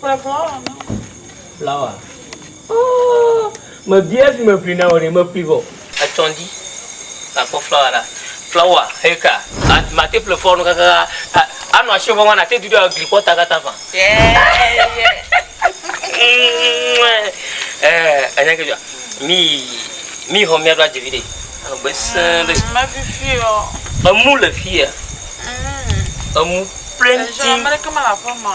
Kplɔ flawa na wo. Flawa. Oh, me bia si me ƒli na wò ɖe, me ƒli vɔ. Etsɔ ŋdi, na kpɔ flawa ɖa. Flawa, he ka. Ma, ma te ƒle flawa no kaka a, a, a nɔ ashiɔ vɔvɔ na te dudu agli kpɔ ta kata ƒã. Eh, anya ke dzɔa? Mi, mi xɔ mia ɖo adze viɖe. Egbe sẽ ɖe. Mm, me fifi ɔ. Emu le fia. Mm. Emu pleŋ ti. Eʒɔ, amɛɖeke mele aƒe ma.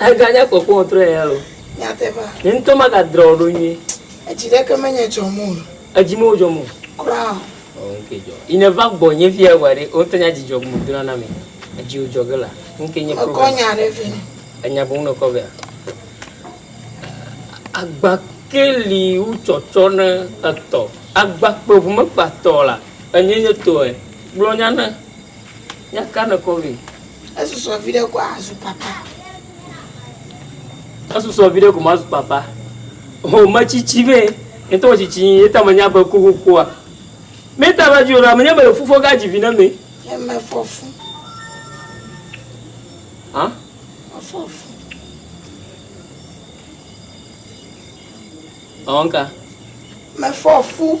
Eganye kpɔkpɔ ŋutrɔe ya o. Nyateƒe. Nye ŋutɔ magadrɔ̃ wo ɖo nyuie. Edzi ɖeke menye dzɔm o. Edzi mewo dzɔm o. Kura o. Ɔ, ŋkee dzɔ. Yi nèva gbɔnye fia eŋua ɖe, wò ŋutɔ nya dzi dzɔ bubu dona na mɛ. Edzi wò dzɔ ge la, ŋkee nye problem. Mekɔ nya ɖe vɛ. Enya boŋ nèkɔ vɛa? Agba ke li wotsɔ tsɔna etɔ. Agba kpe ŋu mekpea tɔ o la, enyee nye tɔe. Gblɔ nya na. Míakana kɔ vɛ. Esusɔ viɖe ko azu papa. Esusɔ viɖe ko mazu papa. Ho metsitsi vɛ. Ŋutɔ metsitsi yi eta menya be kuku kua. Meta va dzi o la menya be le fufɔ ga dzi vi ne me. Yeme fɔfu. Hã? Fɔfu. Ɔnka. Me fɔfu.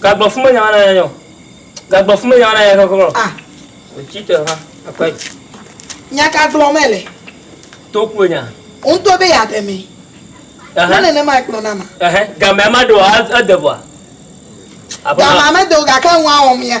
Gagblɔ fu menya na yanya o. Gagblɔ fu menya na yanya keke o. Ah. Wòtsi te va akpa dzi. Nya ka gblɔm mele? To kue nya. Wòŋtɔ be yeaɖe mee. Ɛhɛn. Ne nenemae kplɔ na ma. Ɛhɛn. Gamea maɖe o, ede ŋua? Aƒe ma. Gamea mede o gake ŋua wɔm ya.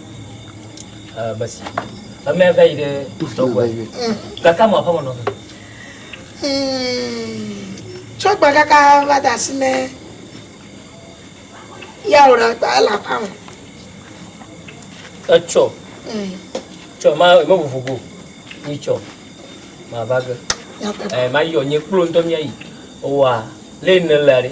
Basi. Ame eve yi ɖe tɔgbɔ. Kaka mo aƒe mɔnɔ. Tɔgbɔ kaka va da si me. Ya wòle gba ele aƒe me. Etsɔ. Tsɔ ma ma vovo go. Ni tsɔ. Ma va ge. Eh, ma yɔ nye kplo ŋutɔ mía yi. Owa, le ne la ɖe.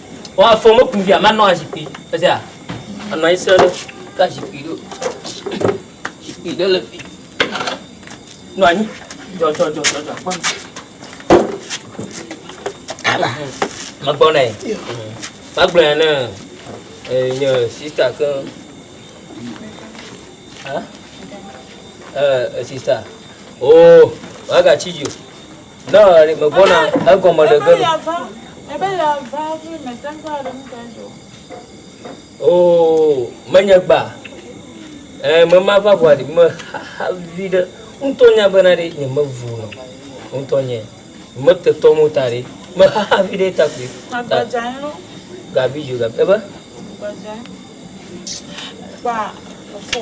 Ɔ afɔ meku via manɔ azikpui esia anɔ anyi srɛ ɖo ka zikpui ɖo zikpui ɖe le fi nɔ anyi dzɔdzɔdzɔdzɔdzɔ kpɔ ala megbɔ nɛ magblɔ ya ne nye sista ke sista o oh, wagatsi dzi o Ne mevɔ̃na, egɔme ɖe ge nu. Oo, menye gba. Ee, mema va ʋua ɖi, mexa vi ɖe. Ŋutɔ nya bena ɖe nye mevu nɔ. Ŋutɔ nye. Metetɔ mo ta ɖe. Mexa vi ɖe ta kpe. Gabi jo, gabi. Ebe? Gba, fɔ.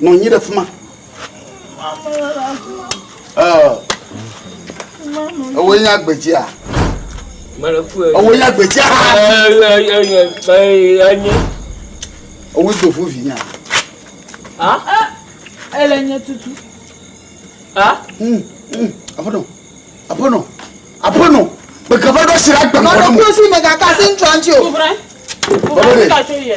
Nɔ anyi ɖe fi ma. Ewo nye agbedzia. Ewo nye agbedzia. Ewo do fu vi nya. Ele nye tutu. Aƒenɔ, aƒenɔ, aƒenɔ, gbegava ɖo si la gbegava. Mɔɖe kusi megakasi ŋutsu ŋutsu. Bɔbɔ de.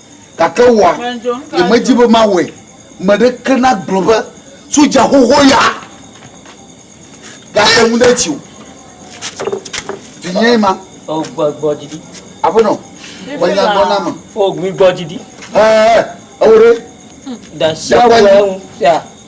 Gake woa, yemedi be mawɔe. Meɖeke nagblɔ be soja xoxo ya gate ŋu ɖe edzi o. Vinye ma. O gbɔ gbɔ didi. Aƒenɔ, menya gbɔ na me. O gbi gbɔ didi. Ɛɛ, ewo ɖe. Dasi awo ŋu fia.